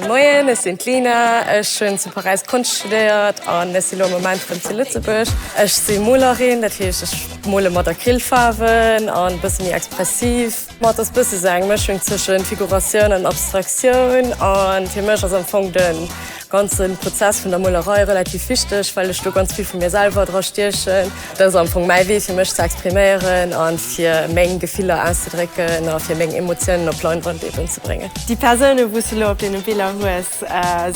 Moien, ech sinn d'Lina, ech hunn zu Paräis Konscht studéiert an ech si lo am Moment erëm zu Lëtzebuerg. Ech si Molerin, dat heescht ech mole mat Acrylfaarwen an e bësse méi expressiv. D'Mat ass bësse sou eng Mëschung tëschent Figuratioun an Abstraktioun an fir mech ass am Fong den Ganze Prozess vun der Molerei relativ wichteg, well ech do ganz vill vu mir selwer dra stiechen. Dat ass am Fong mäi Wee fir mech ze expriméieren a fir meng Gefiller auszedrécken a fir meng Emotiounen op Leinwand eben ze bréngen. Déi Persounen, wou s de elo op deene Biller hues,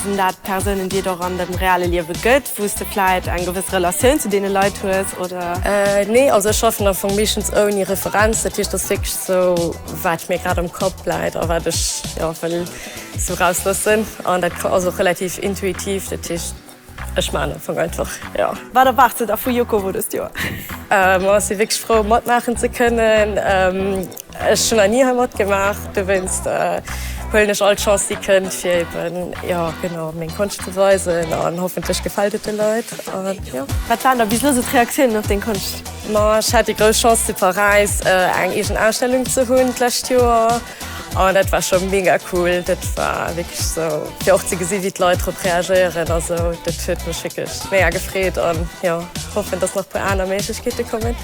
sinn dat Persounen, déi et och an dem reale Liewe gëtt, wou s de vläicht eng gewëss Relatioun zu deene Leit hues, oder? Nee, also ech schaffen am Fong meeschtens ouni Referenz. Dat heescht, et ass wierklech esou, wat mir grad am Kapp läit a wat ech, jo, wëll Ze raus loossen an dat ass och relativ intuitiv, dat heescht ech maan Anfang einfach jo. Wat erwaarts de der vu Jukowo dëst Joer? Majo si wierklech frou matmaachen ze kënnen. Ech hunn nach ni hei matgemaach, dowéinst huelen ech all d'Chance déi kënnt fir eben jo genau meng Konscht ze weisen an hoffentlech gefält et de Leit an jo. Wat waren da bis elo sou d'Reaktiounen op deng Konscht? Majo ech hat déi grouss Chance zu Paräis eng eegen Ausstellung ze hunn d'lescht Joer. An dat war scho mega cool. Dat war wierklech esou fir och ze gesi wéi d'Leit drop reagéieren a sou. Dat huet mech wierklech mega gefreet an jo hoffen, datt nach puer aner Méiglechkeete kommen.